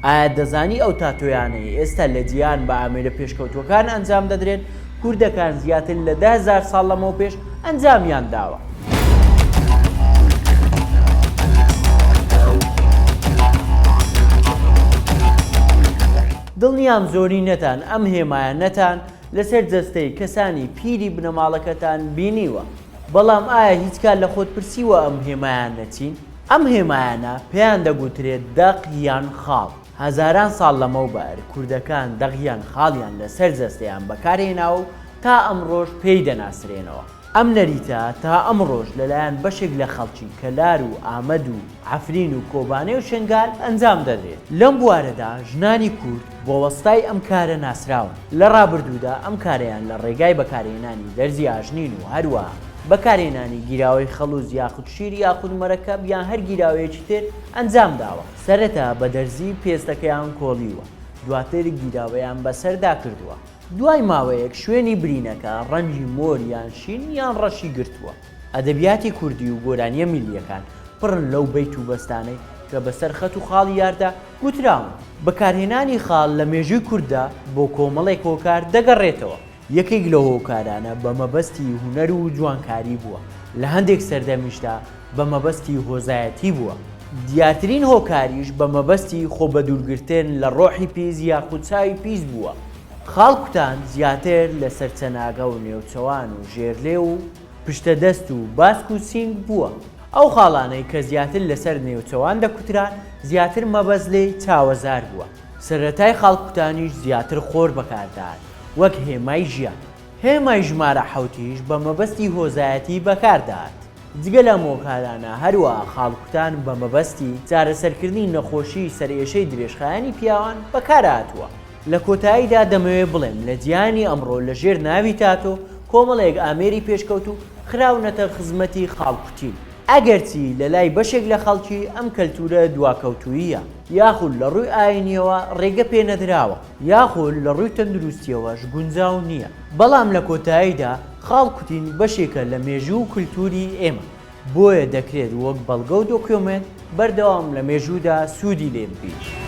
ئایا دەزانی ئەو تاتۆیانەی ئێستا لە جیهان بە ئامێرە پێشکەوتووەکان ئەنجام دەدرێن، کوردەکان زیاتر لە دە هەزار ساڵ لەمەوپێش ئەنجامیان داوە؟ دڵنیام زۆرینەتان ئەم هێمایانەتان لەسەر جەستەی کەسانی پیری بنەماڵەکەتان بینیوە، بەڵام ئایا هیچ کات لە خۆت پرسیوە ئەم هێمایانە چین؟ ئەم هێمایانە پێیان دەگوترێت دەق یان خاڵ. هەزاران ساڵ لەمەوبەر کوردەکان دەق یان خاڵیان لەسەر جەستەیان بەکارهێناوە و تا ئەمڕۆش پێی دەناسرێنەوە. ئەم نەریتە تا ئەمڕۆش لەلایەن بەشێک لە خەڵکی کەلار و ئامەد و عەفرین و کۆبانێ و شنگال ئەنجام دەدرێت. لەم بوارەدا ژنانی کورد بە وەستای ئەم کارە ناسراون. لە ڕابردوودا ئەم کارەیان لە ڕێگای بەکارهێنانی دەرزی ئاژنین و هەروەها. بەکارهێنانی گیراوەی خەڵوز یاخود شیر یاخود مەرەکەب یان هەر گیراوەیەکی تر ئەنجام داوە. سەرەتا بە دەرزی پێستەکەیان کۆڵیوە، دواتر گیراوەیان بەسەردا کردووە. دوای ماوەیەک شوێنی برینەکە ڕەنگی مۆر یان شین یان ڕەشی گرتووە. ئەدەبیاتی کوردی و گۆرانییە میللییەکان پڕن لەو بەیت و بەستانەی کە بەسەر خەت و خاڵی یاردا گوتراون. بەکارهێنانی خاڵ لە مێژووی کورددا بۆ کۆمەڵێک هۆکار دەگەڕێتەوە. یەکێک لەو هۆکارانە بە مەبەستی هونەر و جوانکاری بووە، لە هەندێک سەردەمیشدا بە مەبەستی هۆزایەتی بووە، دیارترین هۆکاریش بە مەبەستی خۆ بەدوورگرتن لە ڕۆحی پیس یاخود چاوی پیس بووە. خاڵ کوتان زیاتر لەسەر چەناگە و نێوچەوان و ژێرلێو و پشتە دەست و باسک و سینگ بووە. ئەو خاڵانەی کە زیاتر لەسەر نێوچەوان دەکوتران زیاتر مەبەست لێی چاوەزار بووە. سەرەتای خاڵکوتانیش زیاتر خۆر بەکاردەهات وەک هێمای ژیان. هێمای ژمارە حەوتیش بە مەبەستی هۆزایەتی بەکاردەهات. جگە لەم هۆکارانە هەروەها خاڵکوتان بە مەبەستی چارەسەرکردنی نەخۆشیی سەرئێشەی درێژخایەنی پیاوان بەکارهاتووە. لە کۆتاییدا دەمەوێ بڵێم لە جیهانی ئەمڕۆ لە ژێر ناوی تاتۆ کۆمەڵێک ئامێری پێشکەوتوو خراونەتە خزمەتی خاڵکوتین. ئەگەرچی لە لای بەشێک لە خەڵکی ئەم کەلتوورە دواکەوتووییە، یاخود لە ڕووی ئایینییەوە ڕێگە پێ نەدراوە، یاخود لە ڕووی تەندروستییەوەش گونجاو نییە، بەڵام لە کۆتاییدا خاڵ کوتین بەشێکە لە مێژوو و کولتووری ئێمە، بۆیە دەکرێت وەک بەڵگە و دۆکیۆمێنت بەردەوام لە مێژوودا سوودی لێ ببینین.